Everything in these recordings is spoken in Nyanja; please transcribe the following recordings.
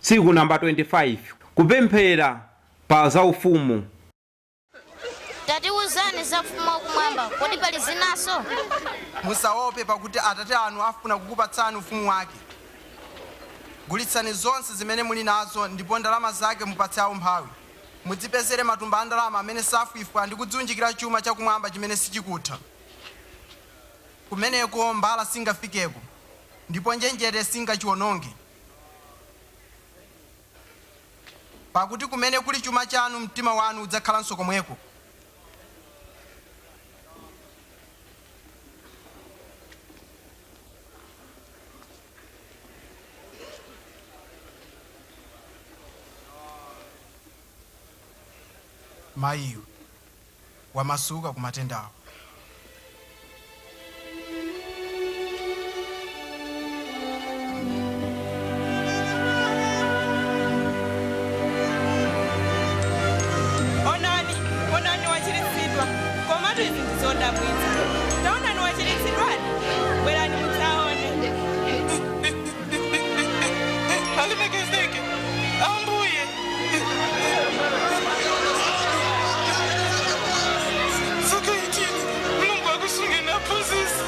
Tsiku namba 25, Kupemphera pa za Ufumu. Tatiuzani za Ufumu wa Kumwamba, kodi pali zinanso? Musaope, pakuti Atate anu afuna kukupatsani Ufumu wake. Gulitsani zonse zimene muli nazo, ndipo ndalama zake mupatse amphawi. Mudzipezere matumba a ndalama amene safwifwa ndi kudziunjikira chuma cha Kumwamba chimene sichikutha. Kumeneko mbala singafikeko, ndipo njenjete singachiwononge. Pakuti kumene kuli chuma chanu, mtima wanu udzakhalanso komweko. Mayiyo. wamasuka ku matendawo. Onani, onani wachiritsidwa. Komatu izi ndi zodabwitsa. Taonani wachiritsidwadi. Bwerani mudzaone. Alemekezeke Ambuye. Zaka 18 Mulungu akusungeni aphunzitsi.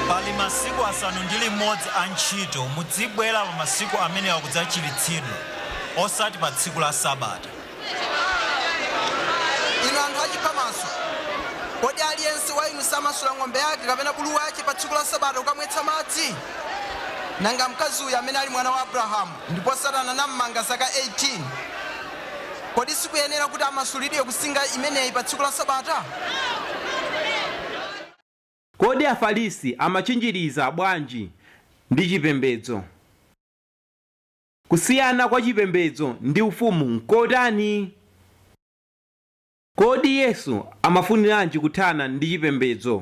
Pali masiku asanu ndi limodzi a ntchito, mudzibwera pa masiku amenewa kudzachiritsidwa, osati pa tsiku la Sabata. Inu anthu achiphamaso! Kodi aliyense wa inu samasula ng'ombe yake kapena bulu wache pa tsiku la Sabata kukamwetsa madzi? Nanga mkazi uyu amene ali mwana wa Abrahamu, ndipo Satana nammanga zaka 18, kodi sikuyenera kuti amasulidwe ku nsinga imeneyi pa tsiku la Sabata? Kodi Afarisi Amatchinjiriza Bwanji ndi Chipembedzo? Kusiyana kwa Chipembedzo ndi Ufumu N'kotani? Kodi Yesu amafuniranji kuthana ndi chipembedzo?